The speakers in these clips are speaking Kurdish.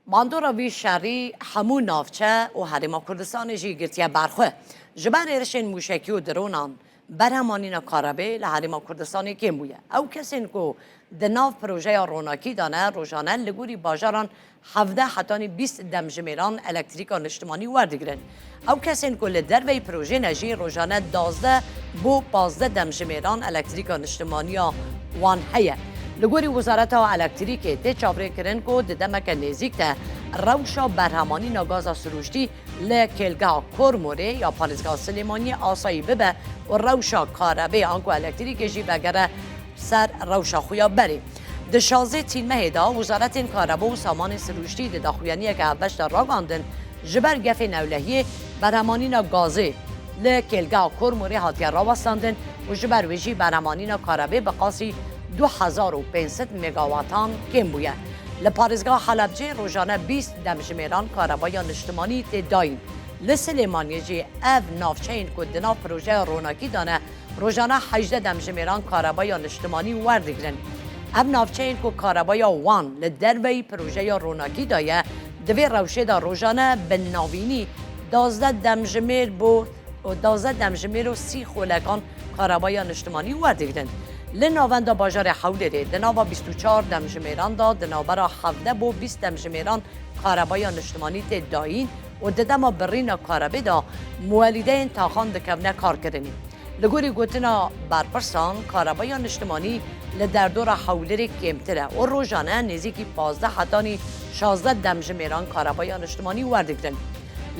Bandora vî şerî hemû navçe û Herêma Kurdistanê jî girtiye ber xwe. Ji ber êrişên mûşekî û dronan, berhemanîna karebê li Herêma Kurdistanê kêm bûye. Ew kesên ku di nav projeya ronakî de ne, rojane li gorî bajaran hevdeh hetanî bîst demjimêran elektrîka niştimanî werdigirin. Ew kesên ku li derveyî projeyê ne jî rojane duwazdeh bo pazdeh demjimêran elektrîka niştimaniya wan heye. Li gorî Wizareta Elektrîkê tê çavrêkirin ku di demeke nêzîk de rewşa berhemanîna gaza sirûştî li kêlgeha Kormorê ya Parêzgeha Silêmaniyê asayî bibe û rewşa karebê anku elektrîkê jî vegere ser rewşa xwe ya berê. Di şazê tîrmehê de, wizaretên karebo û samanên sirûştî di daxuyaniyeke hevbeş de ragandin, Ji ber gefê newlehiyê beremanîna gazê li kêlgeha Kormorê hatiye rawestandin û ji ber wê jî beremanîna karebê bi qasî du hezar û pênc sed megawatan kêm bûye. Li parêzgeha Helebcê rojane bîst demjimêran karebeya niştimanî tê dayîn. Li Silêmaniyê jî ev navçeyên ku di nav projeya ronakî de ne rojane hejdeh demjimêran karebeya niştimanî werdigrin. Ev navçeyên ku karebeya wan li derveyî projeya ronakî de ye, Di vê rewşê de rojane bi navînî duwazdeh demjimêr bo duwazdeh demjimêr û sî xolekan kareweya niştimanî werdigrin. Li navenda bajarê Hewlêrê di nava bîst û çar demjimêran de di navbera hevdeh bo bîst demjimêran kareweya niştimanî tê dayîn û di dema birîna karewê de muwelîdeyên taxan dikevne karkirinî. Li gorî gotina berpirsan, karebeya niştimanî li derdora Hewlêrê kêmtir e û rojane nêzîkî pazdeh hetanî şazdeh demjimêran karebeya niştimanî werdigirin.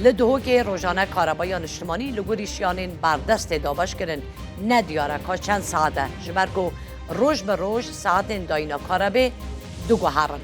Li Duhokê rojane karebeya niştimanî li gorî şiyanên berdest tê dabeşkirin, ne diyar e ka çend saet e ji ber ku roj bi roj saetên dayîna karebê diguherin.